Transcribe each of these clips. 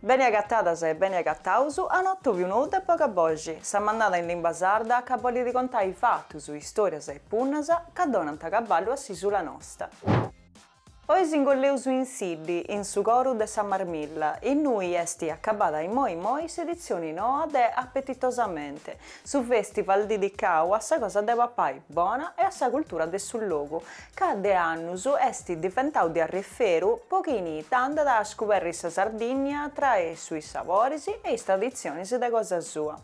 Beni agatadas e beni agataus a un'atòbiu nou de Boga Boxi, sa mannada in limba sarda ca bolit contai fatus, istòrias e punnas ca donant caballu a s'isula nosta. Oi s'ingolleus in Siddi, in su coru de sa Marmilla, innui est acabada immoi immoi s'editzioni noa de Apetitosamente, su festival didicau a sa cosa de papai bona e a sa cultura de su logu, ca de annus est diventau de arriferu po chini tandat a scuberri sa Sardinnia tra is sabores e is traditzionis de cosa sua.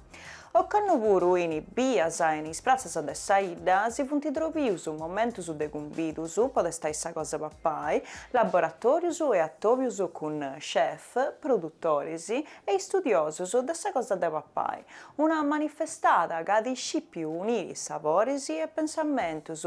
Ocannu puru in is bias e in is pratzas de sa 'idda si funt trobius momentus de cumbidus po testai sa cosa papai, laboratorius e atobius cun chef, produtoris e istudiosus de sa cosa de papai, una manifestada ca at scìpiu uniri sabores e pensamentus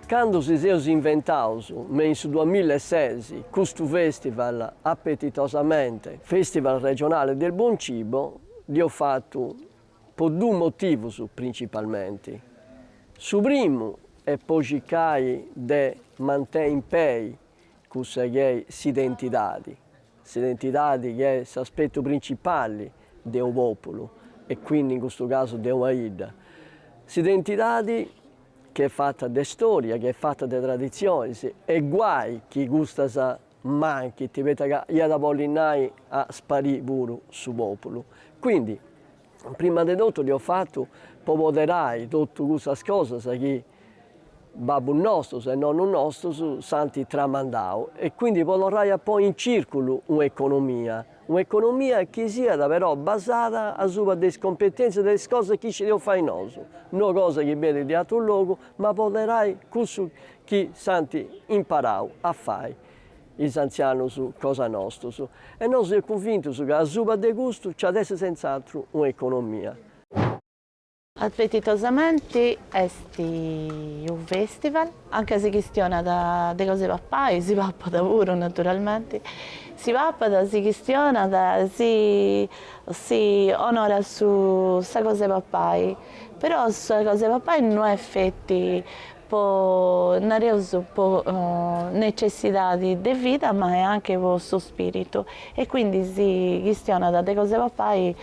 Candu si seus inventaus me in su duamilla e ses custu festival Appetitosamente Festival Regionale del Buon Cibo dd'eus fatu po duus motivus principalmente, su primu est po circai de mantei in pei cussa chi est s'identidadi, s'identidadi chi est s'aspetu principali de unu populu e quindi in custu casu de una idda, s'identidadi. chi est fata de storia, chi est fata de traditzionis, e guai chi custas manchint, poita ca iat a bolli nai a sparii puru su pòpulu. Quindi, prima de totu dd'eus fatu po poderai totu custas cosas chi babbus nostus e nonnus nostus s'ant tramandau e quindi po torrai a ponni in circulu un'economia Un'economia chi siat però basada asuba de is competenzias de is cosas chi scideus fai nosu, no cosa chi benit de atru logu, ma apoderai cussu chi s'ant imparau a fai is antzianus cosa nostus. E nosu seus cunvintus ca asuba de custu nci at a essi senz'atru un'economia. Appetitosamente est unu festival, anca si chistionat de cosa 'e papai, si papat puru naturalmente, si papat, si chistionat, si si onorat su sa cosa 'e papai, però sa cosa 'e papai no est feti po nareus po necessidade de vida ma est anche po su spiritu e quindi si chistionat de cosa 'e papai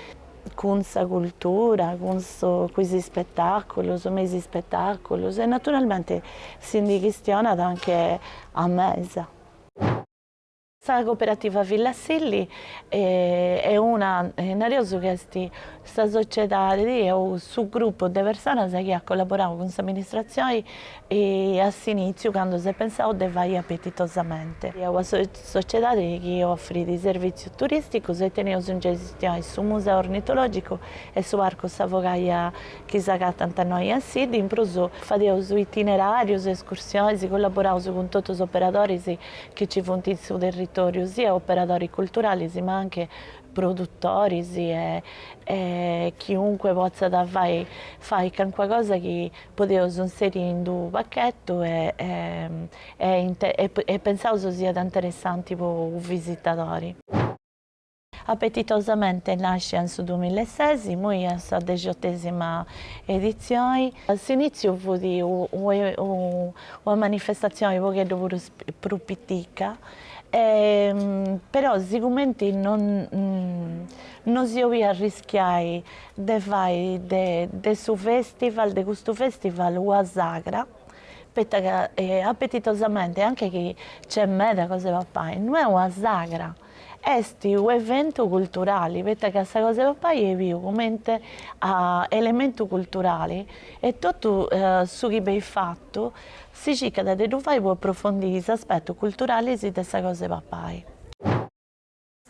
cun sa cultura, cun is ispetàculus, me is ispetàculus e naturalmenti si ndi chistionat anche a mesa. Sa Cooperativa Villa Silli est una, nareus ca est sa sociedadi o su grupu de personas chi at collaborau cun s'amministratzioni E a s'inìtziu, candu s'est pensau de fai apetitosamente una sociedade chi ofrit servìtzius turìsticus, e teneus in gestioni su Museu Ornitològicu e su Parcu Sa Fogaia chi s'agatant innoi a Siddi. In prus fadeus itineràrius, escursionis, collaboraus cun totu is operadoris chi nci funt in su territòriu, sia operadoris culturalis ma anche produtoris e chiunque potzat fai fai calincuna cosa chi podeus inseri in d'u pachetu e pensaus siat interessanti po u visitadori. Apetitosamente est nascia in su dumilla e ses, imoi est sa dexiottesima editzioni. A s'initziu fut una manifestatzioni pogheddu prus pitica, però sigumenti non si 'oliat arrischiai de fai de de su festival de custu festival ua sagra poita ca apetitosamente anche chi nc'est meda cosa de papai no est una sagra est u' eventu culturali poita ca sa cosa de papai est biu comente a elementu culturali e totu su chi benit fatu si circat de ddu fai po approfondiri is aspettus culturalis de sa cosa de papai.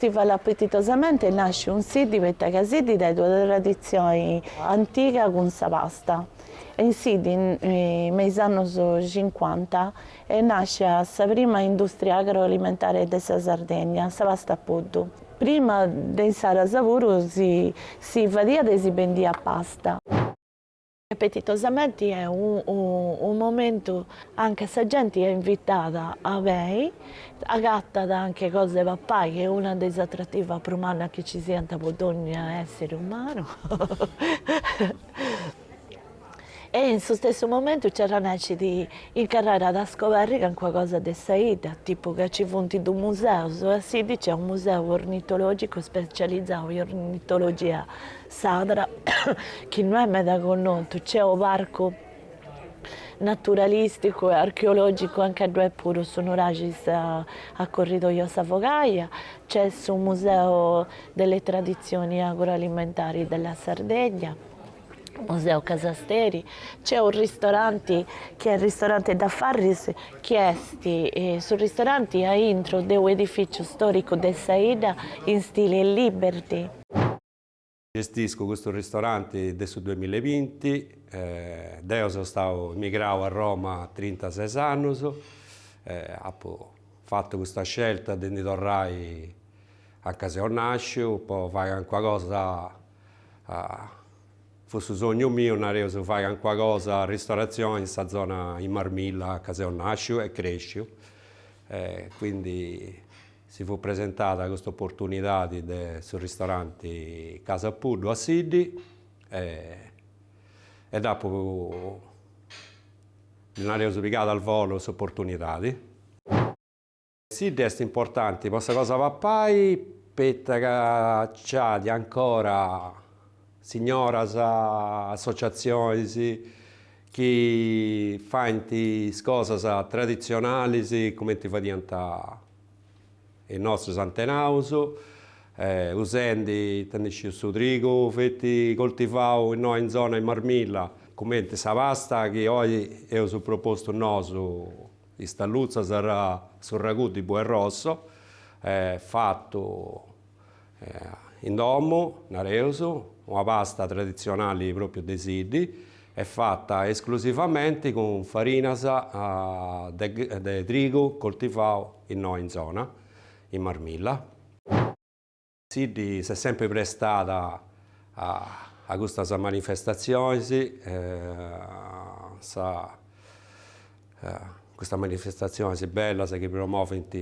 Festival Apetitosamente nascit in Siddi poita ca Siddi dd'at una traditzioni antiga cun sa pasta e in Siddi me is annus cincuanta est nascia sa prima industria agroalimentare de sa Sardegna, sa pasta Puddu. Prima de insaras puru si si fadiat e si bendiat pasta. Apetitosamente est unu momentu anca sa genti est invitada a bei, agatat anche cosa de papai chi est una de is atrativas prus mannas chi ci siant po dogna essiri umanu e in su stessu momentu nci arrennescit in carrera de scoberri calincuna cosa de sa 'idda, tipu ca ci funt dus museus, a Siddi ci est unu museu ornitologicu specializau in ornitologia S'atra, chi no est meda connotu, nc'est su Parcu naturalisticu e archeologicu, anca ddu est puru su nuraxi a corridoio Sa Fogaia, nc'est su Museu delle tradizioni agroalimentari della Sardegna, Museu Casa Steri, nc'est unu ristoranti chi est Ristorante Da Farris chi est su ristoranti a intro de un'edificiu storicu de sa 'idda in stile liberty. Gestisco custu ristoranti de su duemilla e binti. Deu so stau emigrau a Roma a trintases annus. Apu fatu custa scelta de ndi torrai anca seu nàsciu po fai calincuna cosa. Fut su sognu miu, nareus, de fai calincuna cosa, ristoratzioni, in sa zona, in Marmilla, anca seu nàsciu e crèsciu. Quindi Si fut presentada custa oportunidadi de su ristoranti Casa Puddu a Siddi e dd'apu, ddi nareus, pigada al volo s'oportunidadi. Siddi est importanti po sa cosa 'e papai poita ca nc'at ancora signoras, associatzionis, chi faint is cosas traditzionalis cumenti fadiant is nostus antenaus, usendi, ita ndi sciu, su trigu feti coltivau innoi in zona in Marmilla, cumenti sa pasta chi oi eus propostu nosu, is tallutzas, su ragù di bue rosso, fatu In domu, nareus, una pasta traditzionali pròpriu de Siddi est fata esclusivamenti cun farinas de trigu coltivau innoi in zona, in Marmilla. Siddi s'est sempri prestada a custas manifestatzionis, a custas manifestatzionis bellas chi promovint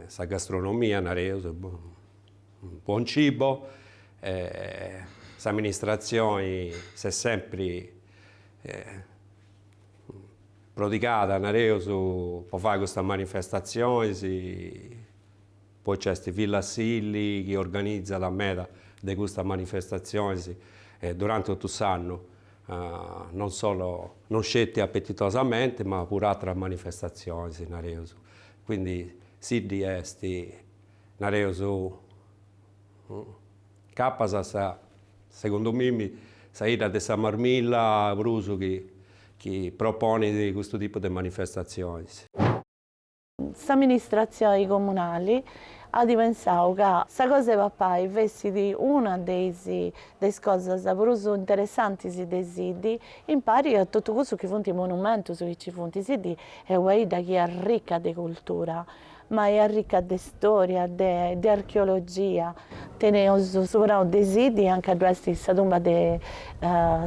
Sa gastronomia, nareus, buon cibo, s'amministratzioni s'est sempri prodigada, nareus, po fai custas manifestatzionis, poi nci est Villa Silli chi organizat meda de custas manifestatzionis duranti totu s'annu, non solo, non sceti Appetitosamente ma puru ateras manifestatzionis, nareus Quindi Siddi est, nareus, capas sa, segundu mimi, sa 'idda de sa Marmilla prus chi proponit custu tipu de manifestatzionis. S'amministratzioni comunali at pensau ca sa cosa 'e papai fessit una de is cosas prus interessantis de Siddi, impari a totu cussus chi funt is monumentus chi nci funt, Siddi Est una 'idda chi est rica de cultura, ma est rica de storia, de archeologia. Teneus su Pranu de Siddi, anca ddu est sa tumba de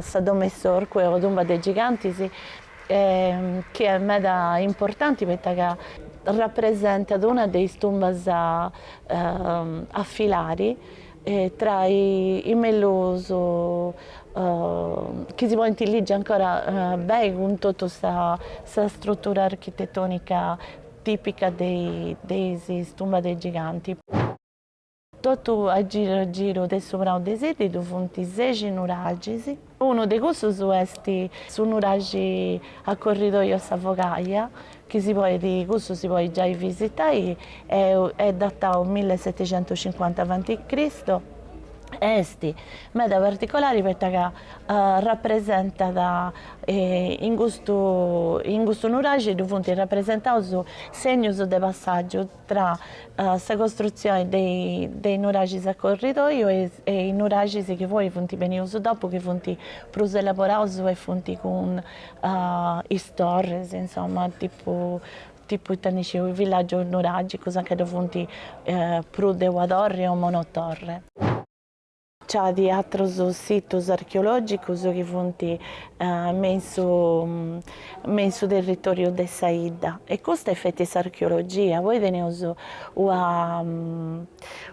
sa Domu 'e s'Orcu o tumba de gigantis, chi est meda importanti poita ca rapresentat una de is tumbas a filari, E tra is mellus chi si podint ligi ancora beni cun totu sa strutura architetonica tipica de is tumbas de is gigantis. Totu a giru a giru de su prau de Siddi ddu funt sexi nuraxis. Unu de cussus est su nuraxi a corridoju Sa Fogaia, chi si podit, cussu si podit giai visitai, est datau millesetecientucincuanta avanti Cristo, e est meda particolari poita ca rapresentat, in custu in custu nuraxi ddu funt rapresentaus segnus de passàgiu, tra sa costrutzioni de is nuraxis a corridoiu e is nuraxis chi poi funt benius dopu chi funt prus elaboraus e funt cun is torris insoma tipu tipu ita ndi sciu is villàgius nuràgicus a ca ddu funt prus de una torri o monotorre. C'at atrus situs archeològicus chi funt me in su me in su territòriu de sa 'idda e custa est feti s'archeologia. Poi teneus una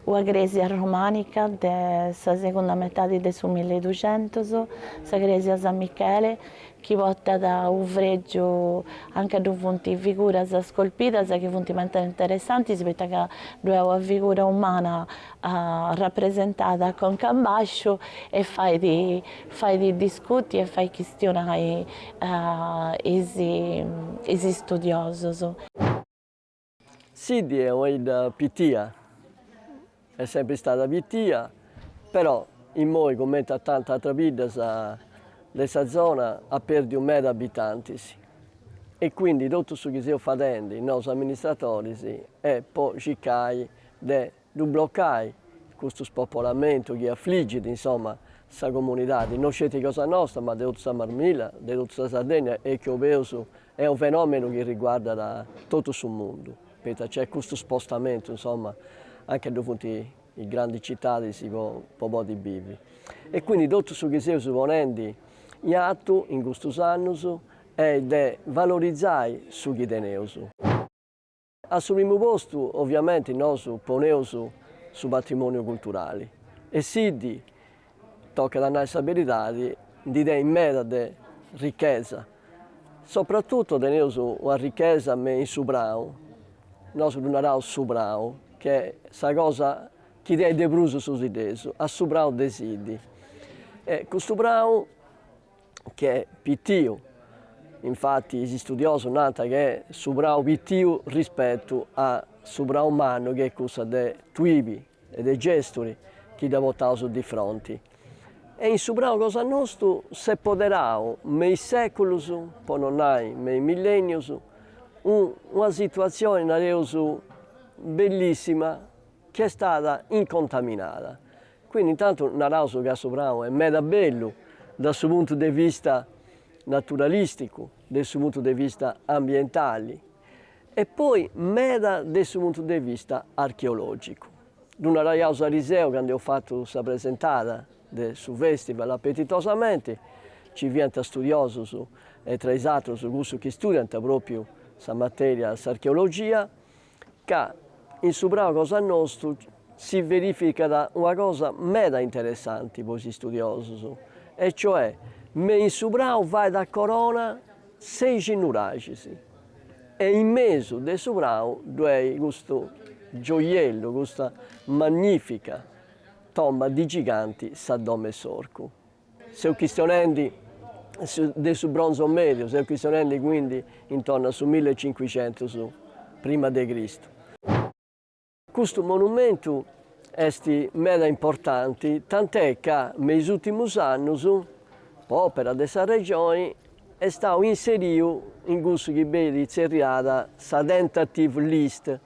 una crèsia romànica de sa segunda metadi de su milli e duxentus, sa crèsia San Michele, chi portat unu frègiu a nche ddu funt figuras scolpidas chi funt meda interessantis poita ca ddoe at una figura umana rapresentada conca a bàsciu e fait fait discuti e fait chistionai is istudiosus. Siddi est una 'idda pitia, est sempri istada pitia, però immoi cumenti a tantas atras biddas de sa zona at perdiu meda abitantis e quindi totu su chi seus fadendi nosu amministratoris est po circai de ddu blocai custu spopolamentu chi afligit, insoma, sa comunidadi, no sceti cosa nosta, ma de totu sa Marmilla, de totu sa Sardegna e chi 'oleus est unu fenomenu chi riguardat totu su mundu, poita nc'est custu spostamentu, insoma, anche ddu funt is grandis citadis po podi bivi. E quindi totu su chi seus ponendi in atu in custus annus est de valorizai su chi teneus. A su primu postu, oviamenti, nosu poneus su patrimòniu culturali e Siddi, tocat a nai sa beridadi, ndi tenit meda de richesa. Sopratutu teneus una richesa me in su prau, nosu ddu naraus su prau, chi est sa cosa chi tenit de prus su siddesu, a su prau de Siddi. E custu prau ch'est pitiu, infati is studiosus nant ch'est su prau pitiu rispetu a su prau mannu chi est cussa de Tuibi e de Gesturi chi dda potaus difronti. E in su prau cosa nostu s'est poderau me is seculus, po no nai me is millenius, una situatzioni, nareus, bellissima, chi est stada incontaminada. Quindi intantu naraus ca su prau est meda bellu da su puntu de vista naturalisticu, de su puntu de vista ambientali e poi meda de su puntu de vista archeologicu. Ddu naraiaus ariseu candu eus fatu sa presentada de su festival apetitosamenti, nci fiant studiosus e tra is atrus cussus chi studiant propriu sa materia s'archeologia, Ca in su prau cosa nostu si verificat una cosa meda interessanti po is istudiosus, e cioè me in su prau fait a corona seixi nuraxis e in mesu de su prau ddoi est custu gioiellu, custa magnifica tomba di giganti sa Domo 'e s'Orcu. Seus chistionendi de su Bronzo Medio, seus chistionendi quindi intorno a su mille e cincuxentus prima de Cristu. Custu monumentu est meda importanti tant'è ca me is ùrtimus annus, po òpera de sa Regioni, est stau inseriu in cussu chi benit tzerriada sa tentative list,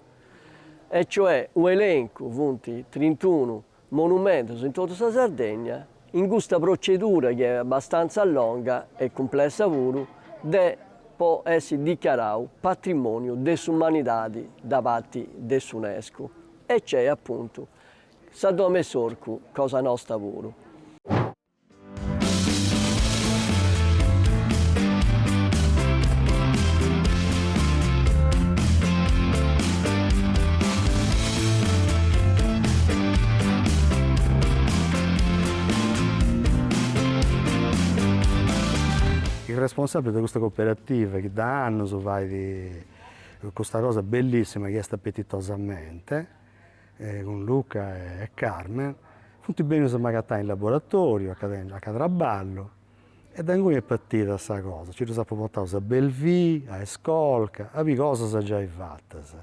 e cioè u' elencu, funt trintunu Monumentos in totu sa Sardegna, in custa procedura chi est abbastantza longa e cumplessa puru de po essi dichiarau patrimoniu de s'umanidadi da parti de s'Unesco e cc'est apuntu sa Domo 'e s'Orcu cosa nosta puru. Is responsàbiles de custa coperativa chi dae annus fait custa cosa bellissima chi est Appetitosamente cun Luca e Carmen, funt bennius a m'agatai in laboratoriu, aca traballu, e de inguni est partida sa cosa, nci ddus apu portaus a Belvì, a Escolca, a biri cosas giai fatas.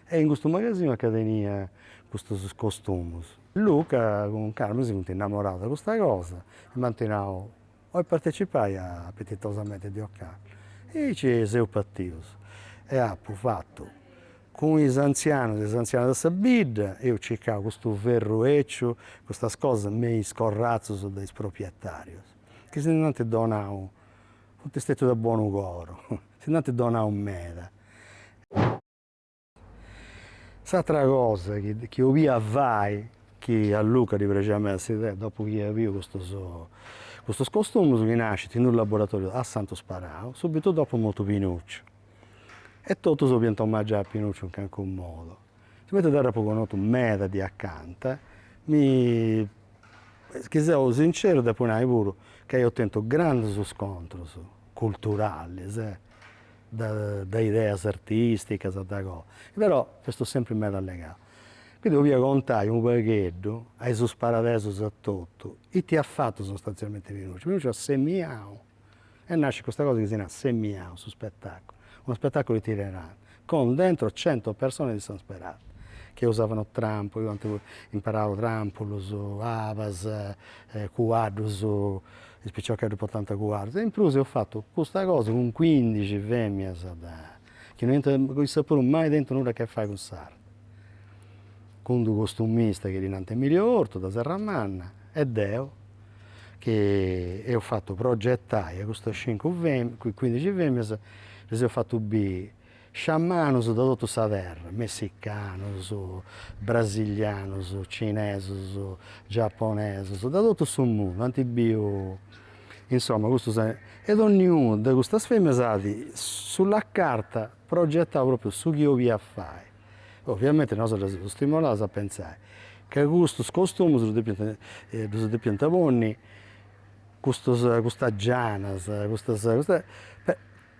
E in custu magasinu aca tenia custus costumus. Luca cun Carmen si funt innamoraus de custa cosa e m'ant nau, Oi partecipai a Appetitosamente de ocannu e aici seus partius e apu fatu cun is anzianus e is anzianas de sa bidda, eus circau custu ferru eciu, custas cosas me is corrazus de is proprietarius chi si nd'ant donau, funt stetius de bonu coro, si nd'ant donau meda S'atra cosa chi chi 'olia fai, chi a Luca ddi praxiat meda s'idea, dopu chi iat biu custus custus costumus, chi nascit in unu laboratoriu a Santu Sparau, subitu dopu mortu Pinucciu. E totus 'oliant omagiai a Pinucciu in calincunu modu. Sigumenti deu dd'apu connotu meda de acanta, ma chi seu sinceru depu nai puru ca eus tentu grandus scontrus culturalis de ideas artisticas de cosa, però festus sempri meda legaus. Quindi 'olia contai unu pagheddu a is sparadesus a totu, ita at fatu sostanzialmenti Pinucciu, Pinucciu at semiau, e nascit custa cosa chi si narat semiau su spetaculu, unu spetaculu itinerante, con dentro cento persone di San Sperate, che usavano trampoli, ant imparau trampulus, abas, cuaddus Is piciocheddus potanta cuaddus. In prus eus fatu custa cosa cun cuindixi femias de, chi no iant issas puru mai tentu nudda a che fai cun s'arti. Cun d'u costumista chi ddi nant Emilio Ortu de Serramanna e deu chi eus fatu progetai a custas cincu femias, cuindixi femias, ddis eus fatu biri Sciamanus de totu sa terra, messicanus, brasilianus, cinesus, giaponesus, de totu su mundu, ant biu, insoma, custus, e donniunu de custas feminas at sulla carta progettau propriu su chi 'oliat fai. Ovviamenti nosu ddas eus stimolaus a pentzai ca custus costumus ddus depiant, ddus depiant ponni custus, custas gianas, custas, custa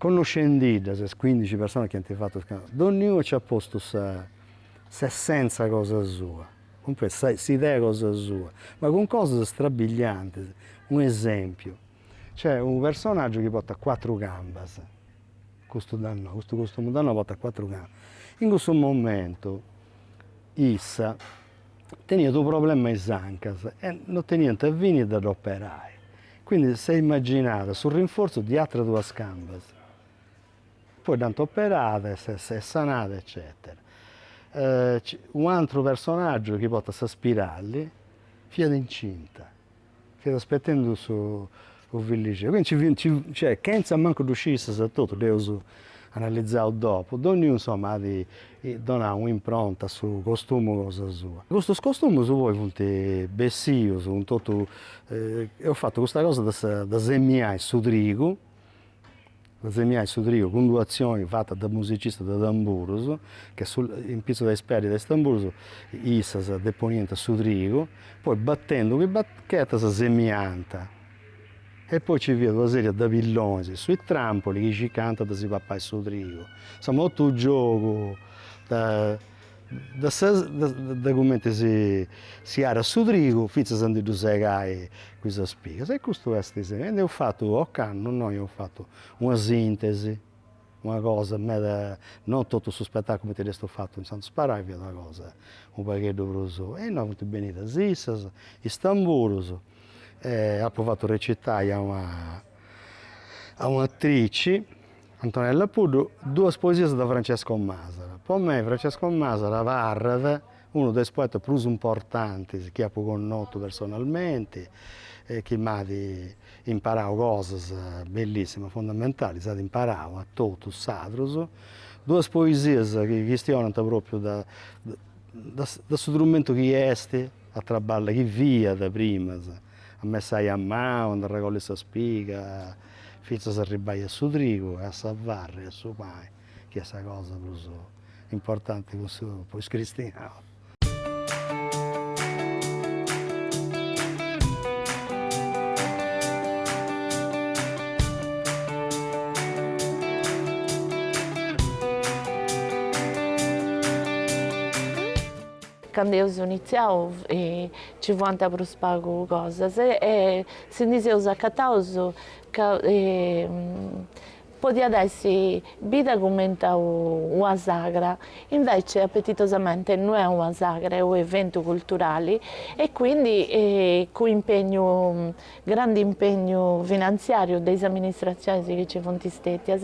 Connoscendiddas is cuindixi personas chi ant fatu is costumus, donniunu nci at postu sa s'essenza cosa sua, cumprendi, sa s'idea cosa sua, ma cun cosas strabiliantis. U' esempiu, nc'est unu personaggiu chi portat cuatru cambas, custu da innoi, custu costumu da innoi portat cuatru cambas. In cussu momentu issa teniat u' problema a is ancas e non teniant fini de dd'operai Quindi s'est imaginada su rinforzu di atras duas cambas, poi dd'ant operada e s'est sanada eccetera. Unu atru personaggiu chi portat sa spirali fiat incinta, fiat aspetendu su fillixeddu, quindi nci fiant, cioè, chentza mancu ddu sciri issas a totu dd'eus analizau dopu, dònniunu insoma at donau un'impronta a su costumu cosa sua. Custus costumus poi funt bessius cun totu, eus fatu custa cosa de sa de semiai su trigu, de semiai su trigu cun d'una atzioni fata de musicistas de tamburus, che su in pitzus de is peddis de is tamburus issas deponiant su trigu, poi batendu chi bachetas semiant E poi ci fiat una seria de pillonis in su i trampoli chi circant de si papai su trigu. Insoma totu giogu de sa de cumenti si arat su trigu finzas a ndi ddu segai cun is spigas. E custu est, e ndi eus fatu, ocannu innoi eus fatu una sintesi una cosa meda, non totu su spettaculu cumenti dd'eus fatu in Santu Sparai, fiat una cosa unu pagheddu prus, e innoi funt bennidas issas, is tamburus, apu fatu recitai a una a un'atrici, Antonella Puddu, duas poesias de Francesco Masala, po mei Francesco Masala abarrat Unu de is poetas prus importantis chi apu connotu personalmenti e chi m'at imparau cosas bellissimas, fundamentali, si at imparau a totus s'atrus. Duas poesias chi chistionant propriu de de su trumentu chi est a traballai, chi fiat primas, a messai a manu, a ndi arregolli sa spiga fintzas a arribbai a su trigu e a sa farra e a su pani. chi est sa cosa prus importanti cun su po is cristianus. Candu eus initziau ci fuant prus pagu cosas e si ndi seus acataus ca Podiat essi bida cumenti a una sagra, invece Appetitosamente no est una sagra, est u' eventu culturali e quindi cun impegnu, grandi impegnu finanziariu de is amministratzionis chi nci funt stetias,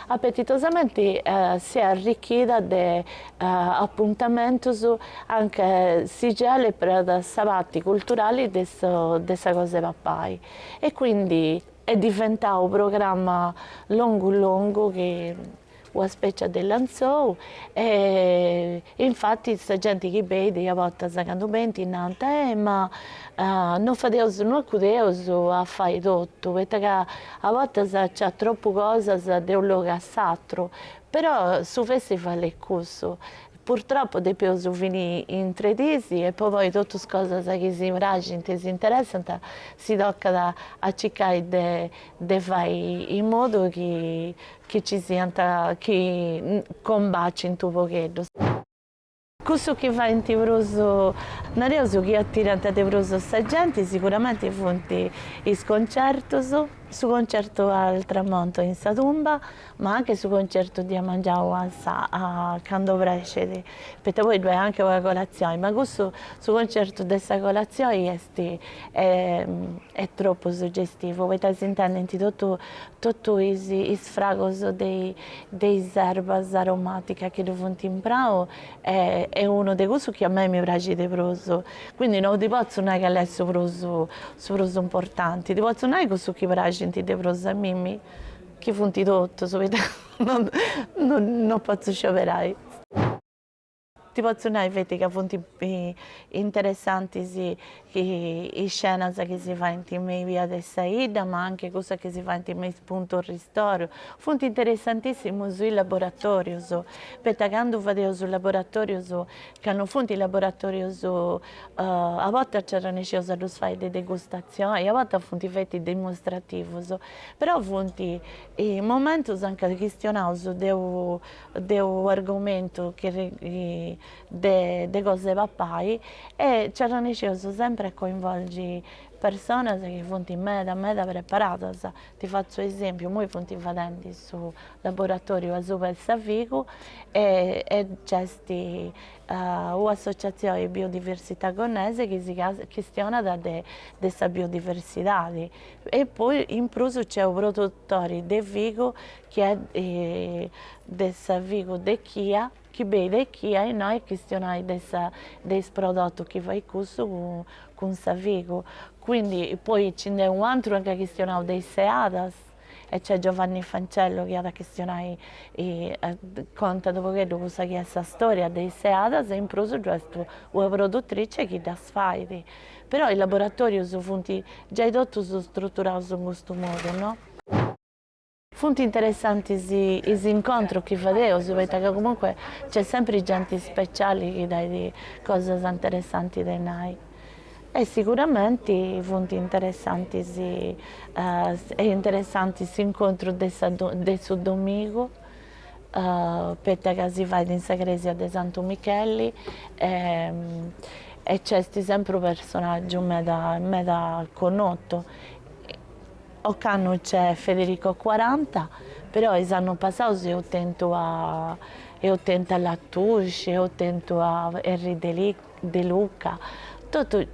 Appetitosamente si est arricchida de apuntamentus anche si 'oleus prus de sa parti culturali de sa cosa de papai e quindi. Est diventau unu programma longu longu che una spècia de lenzou e infatis sa genti chi beit a bortas candu benint nant eh ma non fadeus non acudeus a fai totu poita ca a bortas nc'at tropu cosas de unu logu a s'aturu però su festival est cussu Purtropu depeus fini in tre dis e po poi totus cosas chi si praxint e s'interessant si tocat a circai de fai in modu chi nci siant chi combacint u' pogheddu. Cussus chi faint prus, nareus chi atirant de prus sa genti siguramenti funt is concertus, su concertu al tramonto in sa tumba, Ma anche su concertu de a mangiau a sa a candu obrescit, poita poi ddoi est anche una colatzioni, ma cussu su concertu de sa colatzioni est est tropu suggestivu, poita s'intendint totu totu is is fragus de i de is erbas aromaticas chi ddu funt in prau e est unu de cussus chi a mei mi praxit de prus, quindi no ti potzu nai cali est su prus su prus importanti, ti potzu nai cussus chi praxint de prus a mimmi Chi funt totus, poita no potzu scioberai. Ti potzu nai feti ca funt interessantis is cenas chi si faint me is bias de sa 'idda, ma anche cussas chi si faint me is puntus ristoru. Funt interessantissimus is laboratorius, poita candu fadeus is laboratorius, ca no funt laboratorius, a bortas nci arrennesceus a ddus fai de degustazioni, a bortas funt feti dimostrativus Però funt momentus anca chistionaus de u'argomentu de cosa 'e papai e nci arrannesceus sempri a coinvolgi personas chi funt meda meda preparadas. Ti fatzu un'esèmpiu, imoi funt fadendi su laboratòriu asuba 'e sa figu e nc'est u'associatzioni biodiversità gonnese chi si chistionat de sa biodiversidadi E poi in prus nc'est u' produtori de figu chi est de sa figu de Chia chi bei de Chia innoi a chistionai de sa de is prodotus chi fait cussu cun sa figu quindi poi nci nd'est u' antru chi at chistionau de is seadas e nc'est Giovanni Fancello chi at a chistionai contat u' pogheddu cussa chi est sa storia de is seadas e in prus ddu est una produtrice chi ddas fait Però is laboratòrius funt giai totus struturaus in custu modu, no? Funt interessantis is incontrus chi fadeus, poita ca comunque nc'est sempri genti speciali chi tenit cosas interessanti de nai. E siguramenti funt interessantis est interessanti s'incontru de sa de su domigu poita ca si fait in sa crèsia de Santu Micheli e nc'est sempri unu personàgiu meda meda connotu, ocannu nc'est Federico Quaranta, però is annus passaus eus tentu a eus tentu a Latouche, eus tentu a Erri De Luca, totu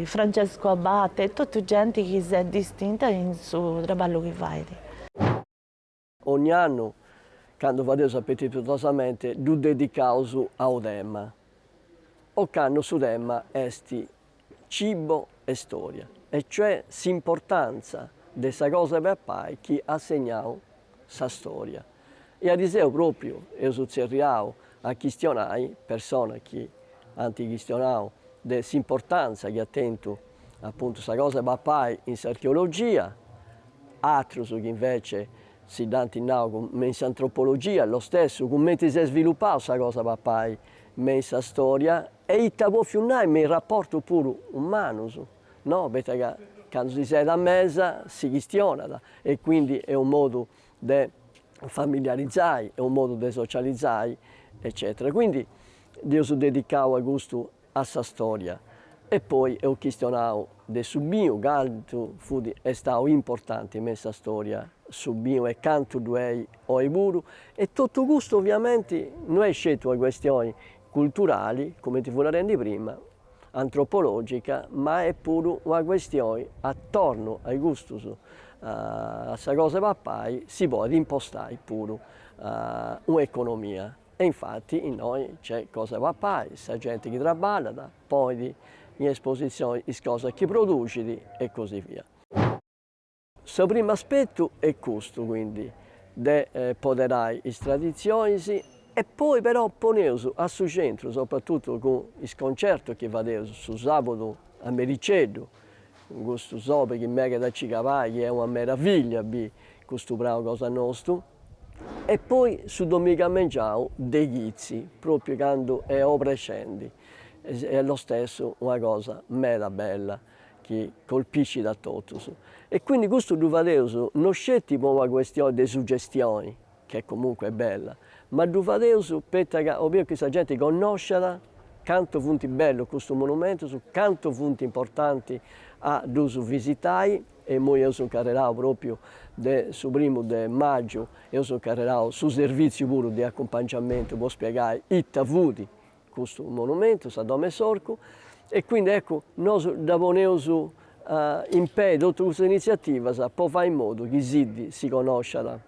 Francesco Abate, totu genti chi s'est distinta in su traballu chi fait. Ogni annu, candu fadeus Appetitosamente, ddu dedicaus a u tema. Ocannu su tema est Cibo e storia, e cioè s'importantza de sa cosa 'e papai chi at segnau sa storia. E ariseu propriu eus tzerriau a chistionai personas chi ant chistionau de s'importantza chi at tentu apuntu sa cosa 'e papai in s'archeologia, atrus chi invece si dd'ant nau me in s'antropologia, lo stesso, cumenti s'est sviluppau sa cosa 'e papai me in sa storia e it'at bòfiu nai me in rapportus puru umanus, no, poita ca candu si seet a mesa si chistionat e quindi est unu modu de familiarizai, est unu modu de socializai eccetera. Quindi dd'eus dedicau a custu a sa storia e poi eus chistionau de su binu cantu fut estau importanti me in sa storia su binu e cantu ddu est oi puru e totu custu oviamenti no est sceti una questioni culturali cumenti fui narendi prima antropologica ma est puru una questioni atornu a custus a sa cosa 'e papai si podit impostai puru una economia. E infati innoi nc'est cosa de papai, sa genti chi traballat ponit in esposizioni is cosas chi produxit e così via. Su primu aspetu est custu quindi de poderai is traditzionis e poi però poneus a su centru, soprattuttu cun is concertus chi fadeus su sabudu a mericeddu, In custu sobi chi meghet a ci cabai chi est una meravillia a bi custu prau cosa nostu e poi su domigu a mengiau de chitzi propriu candu est obrescendi est lo stesso una cosa meda bella chi colpiscit a totus e quindi custu ddu fadeus no sceti po una questione de suggestioni che comunque est bella, ma ddu fadeus poita ca 'obius chi sa genti connosciat cantu funt bellus custus monumentus, cantu funt importanti a ddus visitai, e imui eus incarrerau propriu de su primu de magiu, eus incarrerau su servìtziu puru de acumpangiamentu po spiegai ita fut custu monumentu, sa domo 'e s'orcu, e quindi eccu nosu dda poneus in pei totu custas initziativas po fai in modu chi Siddi si connosciat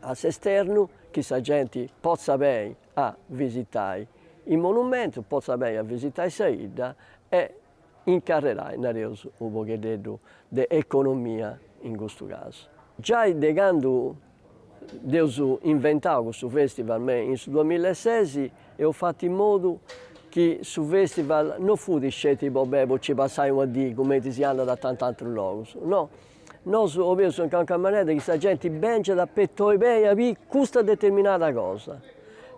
a s'esternu, chi sa genti potzat beni a visitai is monumentus, potzat beni a visitai sa 'idda e incarrerai, nareus, unu pogheddeddu de economia in custu casu. Giai de candu dd'eus inventau custu festival me in su duamilla e sexi eus fatu in modu chi su festival no fut sceti po bei po nci passai una dì cumenti si andat a tant'atrus logus, no. Nosu obeus in calchi manera chi sa genti bengiat ca podit beni a biri custa determinada cosa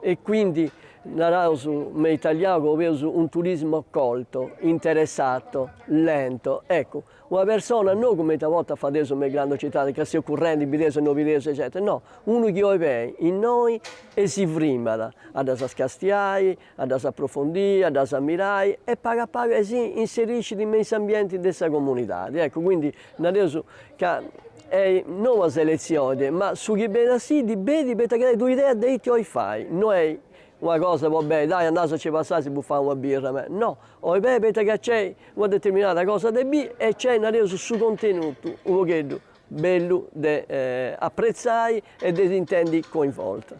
e quindi naraus me italiau ca obeus un turismo colto, interessato, lento, eccu, una persona no cumenti a bortas fadeus me is grandu citadis ca seus currendi, bideus e no bideus eccetera, no, unu chi 'oit bei innoi e si frimat a ddas castiai a ddas aprofondiri, a ddas ammirai e pagu a pagu e si inseriscit me in s'ambienti de sa comunidadi. Eccu, quindi nareus ca est no una selezioni, ma su chi benit a Siddi benit poita chi tenit un'idea de iti 'olit fai, no est una cosa po beniri, dai andaus a nci passai si bufai una birra me, no, 'olit beniri poita ca nc'est una determinada cosa de biri e nc'est, nareus, su contenutu u' pogheddu bellu de apretzai e de si intendi coinvolta.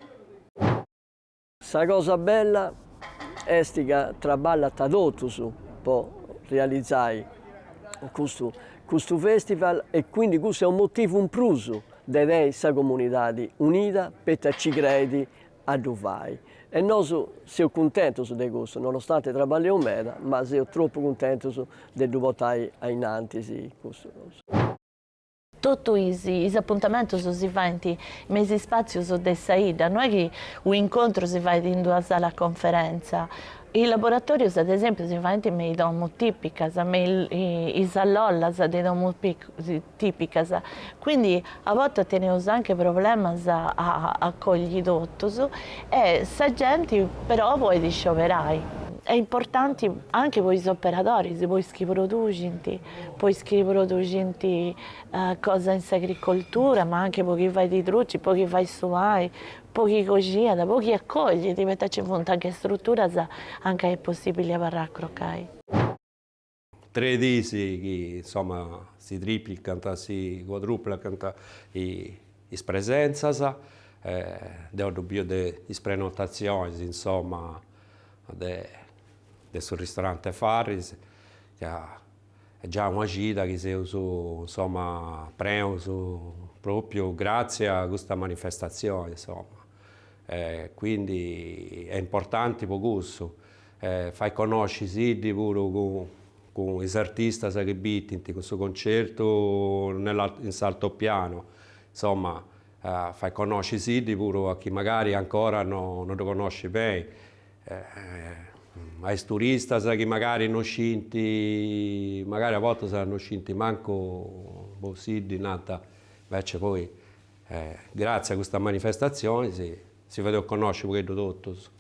Sa cosa bella est ca traballant totus po realizai custu custu festival e quindi cussu est unu motivu in prus de teniri sa comunidadi unida poita ci creit a ddu fai e nosu seus cuntentus de custu nonostante traballeus meda ma seus tropu cuntentus de ddu portai ainnantis custu cosa. Totu is is apuntamentus si faint me is ispàtzius de sa 'idda, no est chi u' incontru si fait in d'una sala conferentza. Is laboratòrius ad esèmpiu si faint me is domus tìpicas, me is lollas de domus tìpicas. Quindi a bortas teneus anche problemas a acolli totus e sa genti però podit scioberai. Est importanti anche po is operadoris, po is chi produxint. po is chi produxint cosa in s'agricoltura, ma anche po chi fait i druci, po chi fait su pani, po chi coxiat, po chi acoglit, poita ci funt anche struturas a nca est possibili abarrai a crocai. Tres diis chi insoma si triplicant, si cuadruplicant is presenzas, deu ddu biu de is prenotazionis insoma de su ristorante Farris, ca est giai una cida chi seus, insoma, preus pròpiu gratzie a custa manifestatzioni, insoma, e quindi est importanti po cussu, e fait connosci Siddi puru cun is artistas chi bitint, cun su concertu in s'altopianu, insoma, fait connosci Siddi puru a chi magari ancora no ddu connoscit beni. a is turistas chi magari no scint, magari a bortas no scint mancu Siddi, nant, invece poi gratzie a custa manifestazioni si fadeus connosci u' pogheddu totus.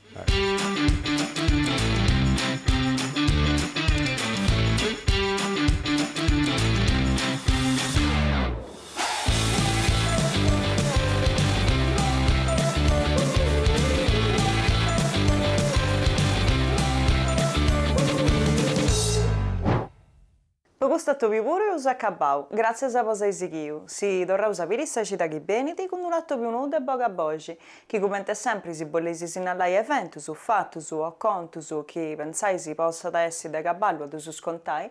Po custu atobiu puru eus acabau, gràtzias po s'ai sighiu, si torraus a biri sa cida chi benit cun unu atobiu nou de bogu a boxi, chi cumenti sempri si bolleis sinnalai eventus, fatus o contus chi pentzais possat essi de cabali a ddus contai,